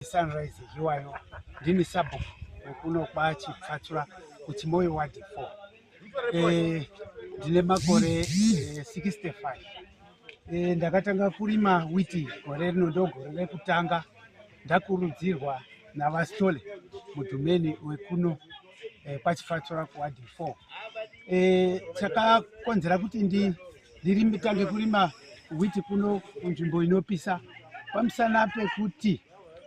Sunrise Hiwayo ndini sabhuku wekuno kwaChipfatsura kuChimoyi ward 4 eh, ndine makore eh, 65 eh, ndakatanga kurima witi gore rino ndogore rekutanga ndakurudzirwa navastole mudhumeni wekuno eh, kwaChipfatsura kuward 4 eh, chakakonzera kuti ndi Ndiritange kurima witi kuno kunzvimbo inopisa pamusana pekuti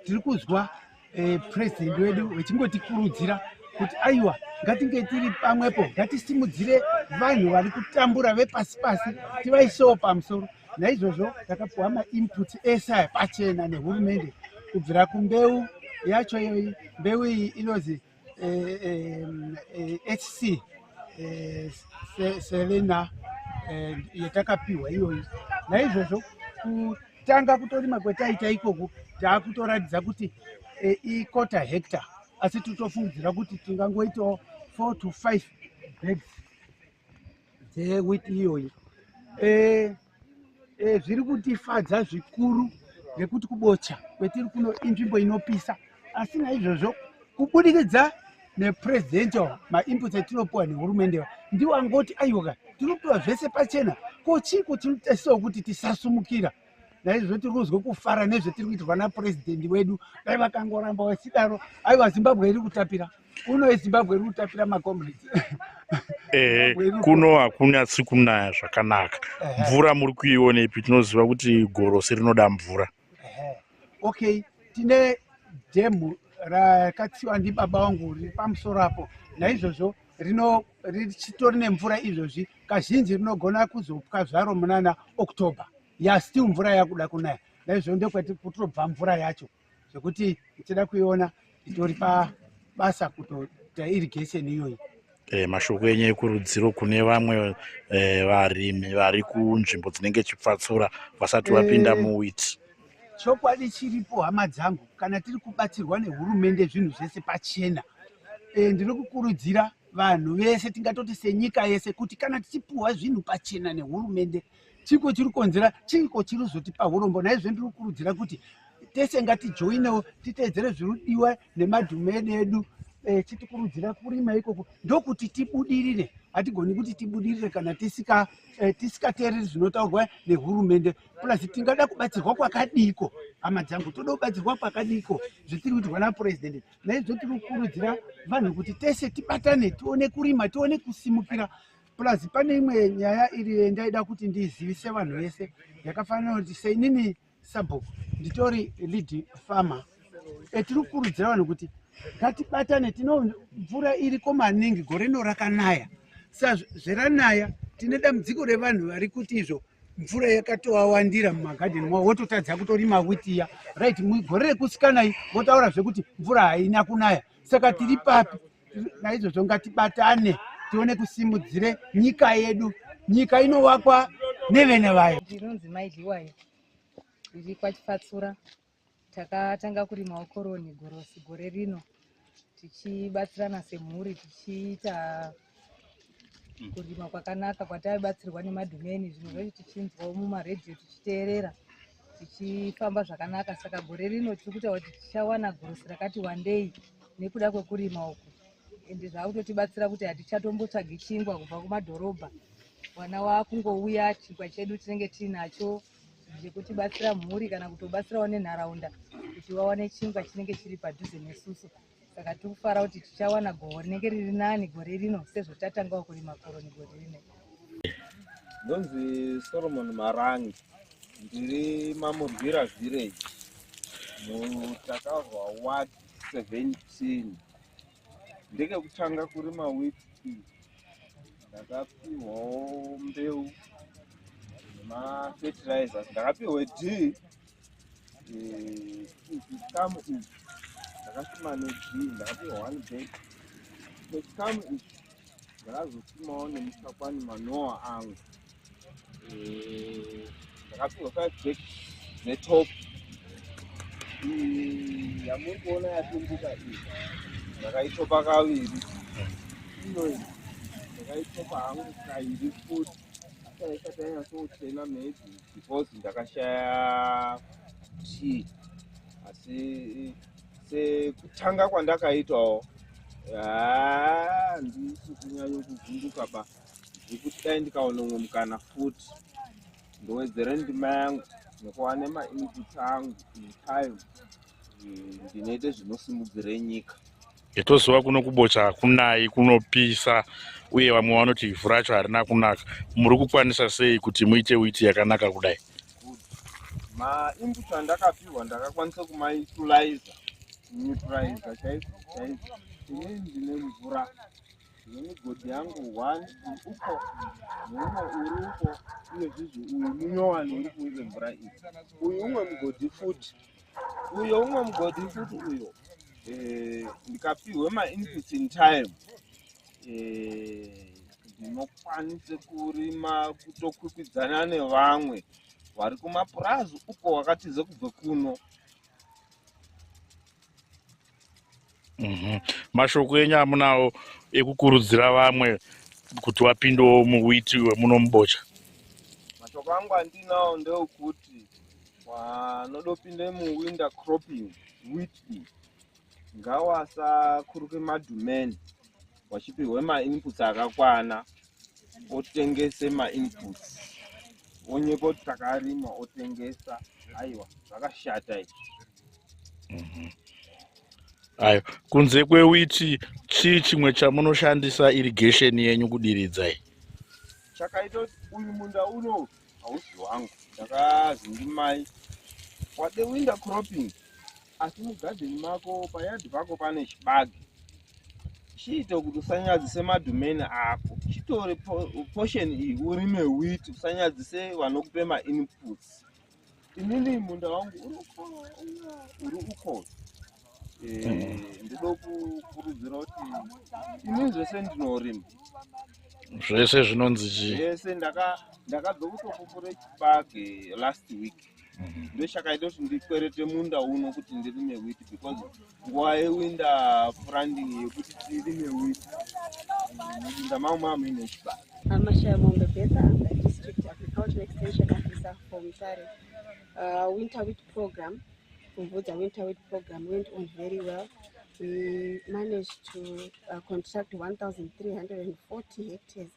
tiri kuzwa eh, president wedu vechingotikurudzira kuti aiwa ngatinge tiri pamwepo ngatisimudzire vanhu vari kutambura vepasi pasi tivaisewo pamusoro naizvozvo takapuwa mainputs ese aya pachena nehurumende kubvira kumbeu yacho iyoyi mbeu iyi inonzi HC eh, eh, eh, Selena yatakapiwa iyoyi. Naizvozvo kutanga kutorima kwetaita ikoko taakutoratidza kuti ikota hectare asi titofungidzira kuti tingangoitawo 4 to 5 bags dzewit iyoyi eh, eh, zviri kutifadza zvikuru nekuti kubocha kwetiri kuno inzvimbo inopisa asi naizvozvo kubudikidza nepurezidendi wa mainputs atinopiwa nehurumende wa ndiwo angoti aiwoka tinopiwa zvese pachena ko chii kuti tinotarisirawo kuti tisasumukira naizvo tiri kuzwe kufara nezvetiri kuitirwa napurezidendi wedu dai vakangoramba vasidaro aiwa zimbabwe iri kutapira kuno ezimbabwe iri kutapira macomrades ehe kuno hakunyatsi kunaya zvakanaka mvura muri kuionepi tinoziva kuti gorosi rinoda mvura okay tine dhemhu rakatsiwa ndibaba wangu riri pamusoro apo naizvozvo rino richitori nemvura izvozvi kazhinji rinogona kuzopwa zvaro munana october ya still mvura yakuda kunaya naizvo ndokwati kutobva mvura yacho zvekuti tichida kuiona itori pabasa kutoita irrigation iyoyi E, mashoko enyu ekurudziro kune vamwe e, varimi vari kunzvimbo dzinenge chipfatsura vasati vapinda e, muwiti Chokwadi chiripo hama dzangu, kana tiri kubatsirwa nehurumende zvinhu zvese pachena. E, ndiri kukurudzira vanhu vese tingatoti senyika yese kuti kana tichipuhwa zvinhu pachena nehurumende chiko chiri kukonzera chiko chiri kuzotipa urombo naizvo ndiri kukurudzira kuti tese ngatijoinewo titeedzere zvirudiwa nemadhumeni edu e, chitikurudzira kurima ikoko ndokuti tibudirire hatigoni kuti tibudirire kana tisikateereri eh, zvinotaurwa nehurumende plus tingada kubatsirwa kwakadiiko hama dzangu toda kubatsirwa kwakadiiko zvatiri kuitirwa napurezidendi naizvo tiri kukurudzira vanhu kuti tese tibatane tione kurima tione kusimukira plus pane imwe nyaya iri ndaida kuti ndizivise vanhu vese yakafanira kuti seinini sabhuku nditori lead farmer etiri kukurudzira vanhu kuti ngatibatane tino mvura iriko maningi gore rino rakanaya sa zveranaya tine dambudziko revanhu vari kuti izvo mvura yakatowawandira mumagadheni mavo wototadza kutorima witiya right gore rekusikanai votaura zvekuti mvura haina kunaya saka tiri papi naizvozvo ngatibatane tione kusimudzire nyika yedu nyika inovakwa nevene vayo ndinonzi maidhiwayo iri kwachifatsura Takatanga kurima koroni gorosi gore rino tichibatsirana semhuri tichiita mm. kurima kwakanaka kwataibatsirwa nemadhumeni zvinhu zvacho tichinzwawo mumaredhiyo tichiteerera tichifamba zvakanaka saka gore rino tiri kuita kuti tichawana gorosi rakati wandei nekuda kwekurima uku ende zvaakutotibatsira kuti hatichatombotsvagi chingwa kubva kumadhorobha mwana waakungouya chingwa chedu tinenge tiinacho zvekutibatsira mhuri kana kutobatsirawo nenharaunda kuti vawane chingwa chinenge chiri padhuze nesusu saka tiri kufara kuti tichawana goho rinenge riri nani gore rino sezvo tatangawo kurima koroni gore rino ndonzi solomon marangi ndiri mamurwira village mutakazwa ward 17 ndekekutanga kurima wit tea ndakapihwawo mbeu nemafertilizers ndakapihwe d chikamu ichi ndakasima ne d ndakapihwa one bag chikamu ichi ndakazotumawo nemusakwani manoa angu eh, ndakapihwa five bag dzetop yamuri kuona yatumbuka iyi ndakaitopa kaviri inoi ndakaitopa hangu kairi futi asaisati yanyasoutena maybe because ndakashaya tii asi sekutanga kwandakaitawo handisi kunyanya kuvhunduka ba zvekuti dai ndikaona umwe mukana futi ndowedzere ndima yangu nekuva nemainput angu time ndinoite zvinosimudzire nyika yetoziva kuno kubocha hakunai kunopisa uye vamwe vanoti ivhu racho harina kunaka muri kukwanisa sei kuti muite witi yakanaka kudai good mainput andakapihwa ndakakwanisa kumautiliza neutraliza chaizvo chaizvo ini ndine mvura nemigodhi yangu one uko neumwe uri uko uye zvizi uyu munyowani uri kuive mvura iyi uyu umwe mugodhi futi uyo umwe mugodhi futi uyo eh, ndikapihwe mainput in time Eh, ndinokwanisa kurima kutokwikwidzana nevamwe vari kumapurazi uko wakatiza kubva kuno mhm. mashoko enyu amunawo ekukurudzira vamwe kuti wapindewo muwiti wemuno mubocha mashoko angu andinawo ndeokuti wanodopinde muwinda cropping witi ngawasakuruke madhumeni wachipihwe mainputs akakwana otengese mainputs onyepa kuti takarima otengesa aiwa zvakashata izvi mhm. ayo kunze kwewiti chii chimwe chamunoshandisa irrigation yenyu kudiridzai chakaita kuti uyu munda uno hausi wangu ndakazindimai wadewinda cropping asi mugadheni mako payadi pako pane chibage chiite kuti usanyadzise madhumeni ako chitore portion iyi urime wit usanyadzise vanokupe mainputs inini munda wangu uri uko uri uko eh, ndido kukurudzira kuti ini zvese ndinorima zvese zvinonzi chii zvese ndakabva kutokupure chibage last week Mhm. ndoshakaita kuti ndikwerete munda uno kuti ndirime wit because nguva yewinda franding yekuti tirime wit munda mangu mava muine chibasa amashamombe betha am the district agricultural extension officer for mutare uh, winter wit program kumvudza winter wit program went on very well we managed to uh, construct 1340 hectares